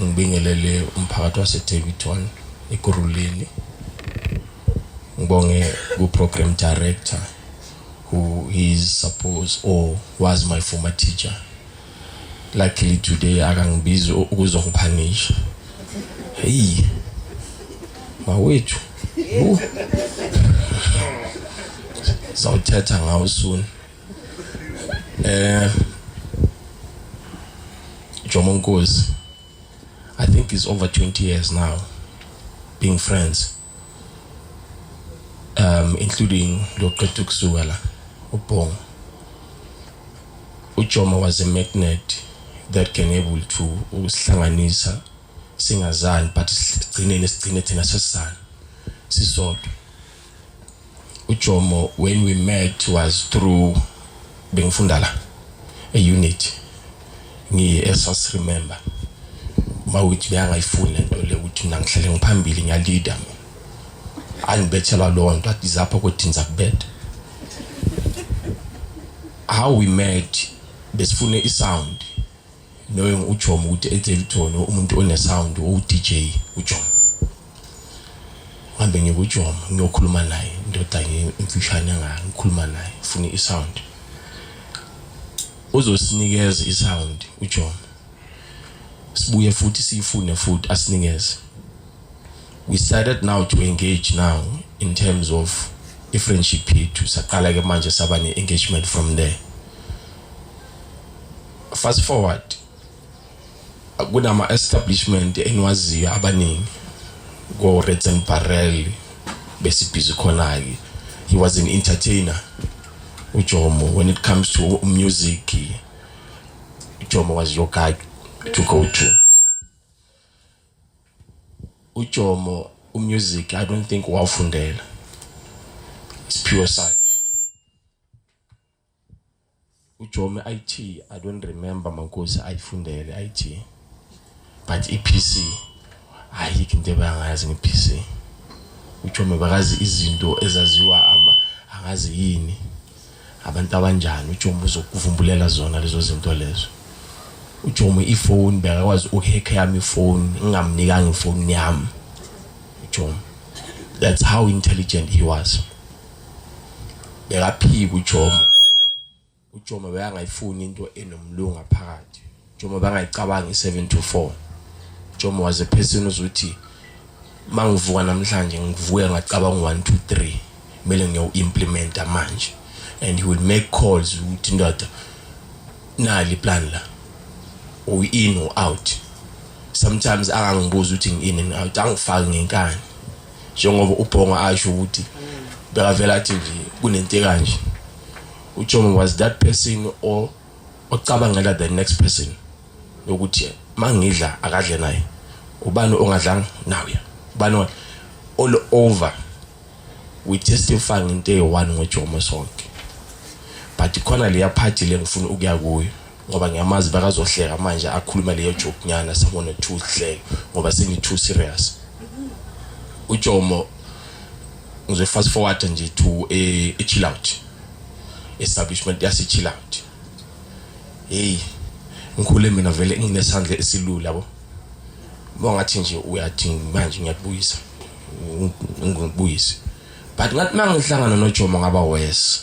ngibingelele umphakathi waseDavidton eGuruleni ngibonge ku-program director who is supposed or was my former teacher luckily today akangibizi ukuzongiphanisha heyi mawethu sawuthetha ngawo soon Eh Jomo Nkosi I think it's over 20 years now being friends um including loqeda ukusuka la ubhongo uJomo was a magnet that can able to usihlanganisa singazani but sigcineni sigcine thina sesizana sisodwa uJomo when we met was through bengifunda la a unit ngiye esas remember mawuthi beyangayifuni lento le ukuthi mina ngihlele ngiphambili ngiyalida angibethelwa lo nto athi zapha ukuthi ngiza kubetha how we met besifune isound Noyo uJom ukuthi enze lithoni umuntu one sound o DJ uJom. Ngihambe ngiye kuJom ngiyokhuluma naye indoda ngimfishane nga ngikhuluma naye ufuna i sound. Uzosinikeza i sound uJom. Sibuye futhi siyifune futhi asinikeze. We started now to engage now in terms of i friendship yethu saqala ke manje saba ne engagement from there. Fast forward kunama establishment engiwaziyo abaningi ko Reds and Barrel besibhizi khona ke he was an entertainer uJomo when it comes to music uJomo was your guy to go to uJomo umusic i don't think wawufundela it's pure side ujomi it i don't remember mankosi ayifundele it but i-pc ayikho into ebangayazi nge-pc ujomi bakazi izinto ezaziwa ama angazi yini abantu abanjani ujomi uzokuvumbulela zona lezo zinto lezo ujomi ifoni bekakwazi ukuhekha yami ifoni ngingamnikanga ifoni yami ujomi that's how intelligent he was bekaphika uJomo uJomo bekangayifuni into enomlunga phakathi Jomo bangayicabanga i7 to 4 Jomo was a person uzothi mangivuka namhlanje ngivuke ngacabanga 1 2 3 kumele ngiyo implementa manje and he will make calls ukuthi ndoda nali plan la u in or out sometimes angangibuza ukuthi ngi in and out angifaki ngenkani njengoba ubhongo asho ukuthi bekavela athi nje kunento ekanje ujomo was that person or ocabangela the next person yokuthi mangidla akadle naye ubani ongadlanga nawe ubani all over we testify ngento eyi-one ngojomo sonke but khona leya phathi le ngifuna ukuya kuyo ngoba ngiyamazi bakazohleka manje akhuluma leyo joke nyana sibone two hleke ngoba sengi too serious uJomo ngize fast forward nje to a, eh, a chill out establishment yase chill out hey ngikhule mina vele nginesandla esilula yabo bongathi nje uyathi manje ngiyakubuyisa ngikubuyise but ngathi mangihlangana noJomo ngaba worse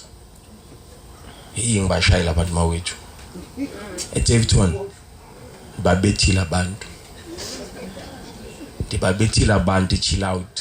Hey ngibashayela abantu mawethu. ETavton babethile abantu. Ndibabethile abantu chill out.